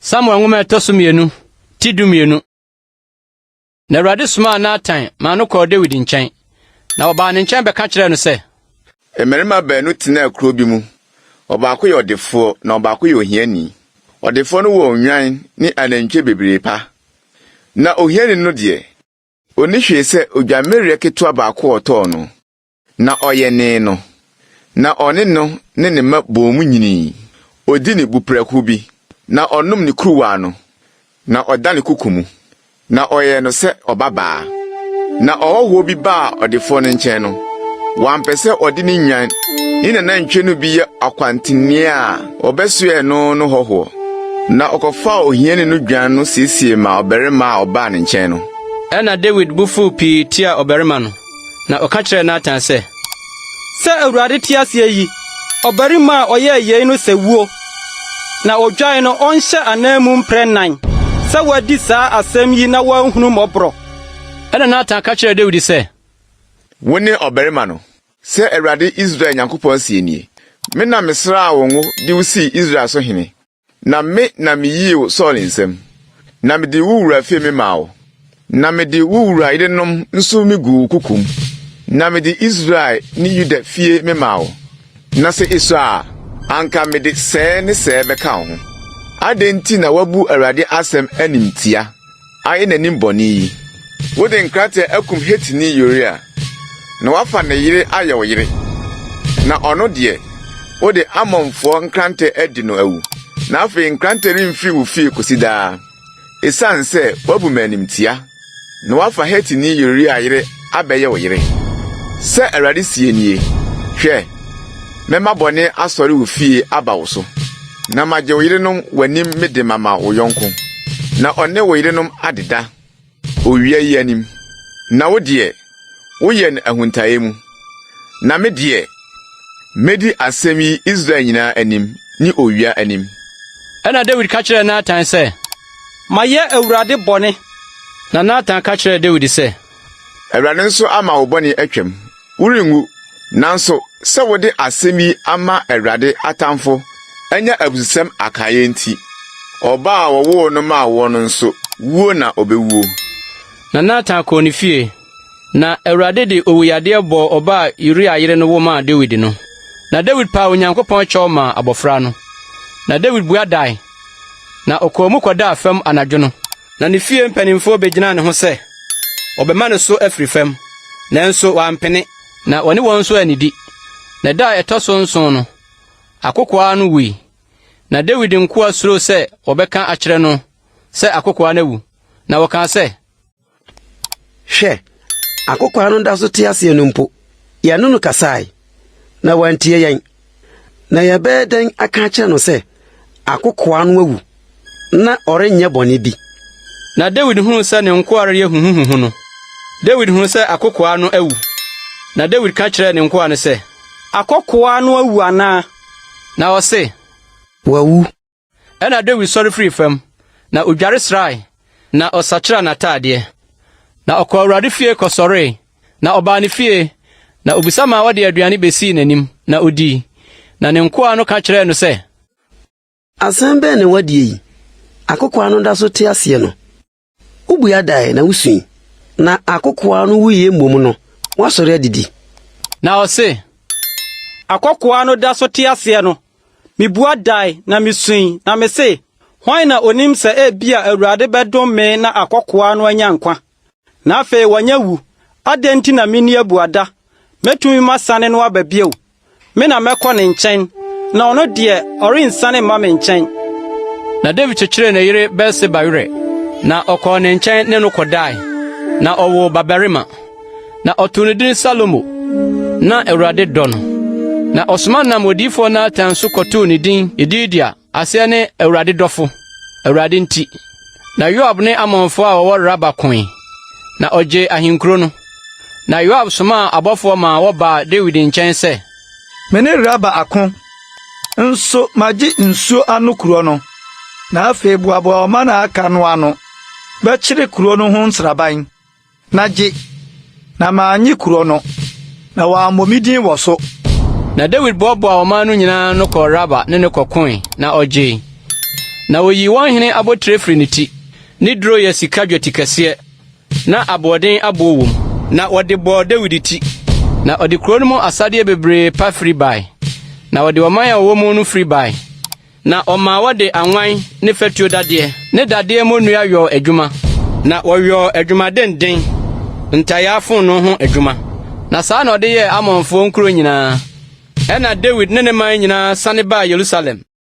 Samuel nwoma ɛtɔ so mmienu ti du mmienu. Na Awurade somaa Natan maa no kɔɔ Dawid nkyɛn, na ɔbaa ne nkyɛn bɛka kyerɛɛ no sɛ. Mmarima baanu tenaa kuro bi mu. Ɔbaako yɛ ɔdefoɔ na ɔbaako yɛ ohiani. Ɔdefoɔ no wɔ nnwan ne anantwie bebree pa, na ohiani no deɛ. Onni hwee sɛ odwammereɛ ketewa baako a ɔtɔɔ no. Na ɔyɛnee no, na ɔne no ne ne mma boom nyinii. Odi ne bu prɛko bi, na ɔnom ne kuruwa ano, na ɔda ne koko mu, na ɔyɛ no sɛ ɔbabaa. Na ɔhɔhoɔ bi baa ɔdefoɔ no nkyɛn no, wampɛ sɛ ɔde ne nnwan ne n'anantwie no bi yɛ ɔkwantenneɛ a Wɔbɛsoɛɛ no no hɔhoɔ, na ɔkɔfaa ohiani no dwan no siesiee maa ɔbarima a ɔbaa ne nkyɛn no. Ɛnna Dawid bo fuu pii tiaa ɔbarima no, na ɔka kyerɛɛ Natan sɛ, Sɛ Awurade te ase yi, ɔbarima a ɔyɛɛ yei no sɛ wuo, na ɔdwae no ɔnhyɛ ananmu mprɛ nnan sɛ wadi saa asɛm yi na wanhunu mmɔborɔ. Ɛnna Natan ka kyerɛɛ Dawid sɛ. Wo ne ɔbarima no. Sɛ Awurade Israel Nyankopɔn seɛ nie, Me na mesraa wo ngo de wo sii Israel so hene, na me na meyii wo Saul nsam, na mede wo wura fie me maa wo, na mede wo wura yerenom nso me guu wo kokom, na mede Israel ne Yuda fie me maa wo, na sɛ esua a, anka mede sɛɛ ne sɛɛ bɛka wo ho. Adɛn nti na woabu Awurade asɛm animtia? ayɛ n'anim bɔne yi? Wode nkrataa akum Hetini Uria, na woafa ne yere ayɛ wo yere, na ɔno deɛ, wode Ammonfoɔ nkrantɛ adi no awu, na afei nkrantɛ remfiri wo fie kɔsi daa, esiane sɛ woabu me animtia, na woafa Hetini Uria yere abɛyɛ wo yere. Sɛ Awurade seɛ nie, Hwɛ, mɛma bɔne asɔre wo fie aba wo so, na magye wo yerenom w'anim mede mama wo yɔnko, na ɔne wo yerenom adeda owia yi anim, na wo deɛ, woyɛ no ahuntaeɛ mu. Na me deɛ, mɛdi asɛm yi Israel nyinaa anim ne owia anim. Ɛnna Dawid ka kyerɛɛ Natan sɛ, Mayɛ Awurade bɔne. Na Natan ka kyerɛɛ Dawid sɛ. Awurade nso ama wo bɔne atwam. Worenwu. Nanso sɛ wode asɛm yi ama Awurade atamfo anya abususɛm akaeɛ nti, ɔba a wɔwoo no maa woɔ no nso, wuo na ɔbɛwuo. Na Natan kɔɔ ne fie. Na Awurade de owuyadeɛ bɔɔ ɔba a Uria yere no wo maa Dawid no. Na Dawid paa Onyankopɔn kyɛw maa abɔfra no. Na Dawid bua dae. na ɔkɔɔ mu kɔdaa fam anadwo no. Na ne fie mpanimfoɔ bɛgyinaa ne ho sɛ wɔbɛma no so afiri fam, nanso wampene. Na ɔne wɔn nso annidi. Na da a ɛtɔ so nson no, akokoaa no wui. Na Dawid nkoa suroo sɛ wɔbɛka akyerɛ no sɛ akokoaa no awu, na wɔkaa sɛ, Hwɛ! Akokoaa no da so te aseɛ no mpo, yɛne no kasae, na wantie yɛn. Na yɛbɛyɛ dɛn aka akyerɛ no sɛ akokoaa no awu, na ɔrenyɛ bɔne bi? Na Dawid hunuu sɛ ne nkoa reyɛ huhuhuhu no, Dawid hunuu sɛ akokoaa no awu. Na Dawid ka kyerɛɛ ne nkoa no sɛ. Akokoaa no awu anaa? Na wɔse. Wawu. Ɛnna Dawid sɔre firii fam, na odware srae, na ɔsakyeraa n'ataadeɛ. Na ɔkɔɔ Awurade fie kɔsɔree, na ɔbaa ne fie, na obisa maa wɔde aduane besii n'anim, na odii. Na ne nkoa no ka kyerɛɛ no sɛ. Asɛm bɛn na ɛwɔ adie yi? Akokoaa no da so te aseɛ no? Wubua dae na wusui, na akokoaa no wuiɛ mmom no, woasɔre adidi. Na ɔse, Akokoaa no da so te aseɛ no, mebua dae na misui, na mese, Hwan na onim sɛ ebia Awurade bɛdom me na akokoaa no anya nkwa, na afei wanya wu? Adɛn nti na menni abuada? Mɛtumi masane no aba bio? Me na mɛkɔ ne nkyɛn, na ɔno deɛ, ɔrensiane mma me nkyɛn. Na Dawid kyekyeree ne yere Bat-Seba werɛ, na ɔkɔɔ ne nkyɛn ne no kɔdae, na ɔwoo babarima. Na ɔtoo no din Salomo, na Awurade dɔ no. Na ɔsoma nam odiyifoɔ Natan so kɔtoo ne din Yedidia. Aseɛ ne Awurade dɔfo, Awurade nti. Na Yoab ne Ammonfoɔ a wɔwɔ Raba koe, na ɔgyee ahenkuro no. Na Yoab somaa abɔfoɔ maa wɔbaa Dawid nkyɛn sɛ. Me ne Raba ako, nso magye nsuo ano kuro no. Na afei boaboa ɔman a aka no ano bɛkyere kuro no ho nsraban Na gye, na mannye kuro no. Na wɔammɔ me din wɔ so. Na Dawid boaboaa ɔman no nyinaa ano kɔɔ Raba ne no kɔkoe, na ɔgyee. Na wɔyii wɔn hene abotire firii ne ti, ne duro yɛ sika dwatikɛseɛ, na aboɔden aboɔ wom. Na wɔde bɔɔ Dawid ti, na ɔde kuro no mu asadeɛ bebree pa firi bae, na ɔde ɔman a ɔwɔ mu no firi bae. Na ɔmaa wɔde anwan ne fatuo dadeɛ ne dadeɛ mmonnua yɔɔ adwuma. Na wɔyɔɔ adwumadenden, ntayaa fononoo ho adwuma. Na saa na ɔde yɛɛ Ammonfoɔ nkuro nyinaa. Ɛnna Dawid ne ne man nyinaa sane baa Yerusalem.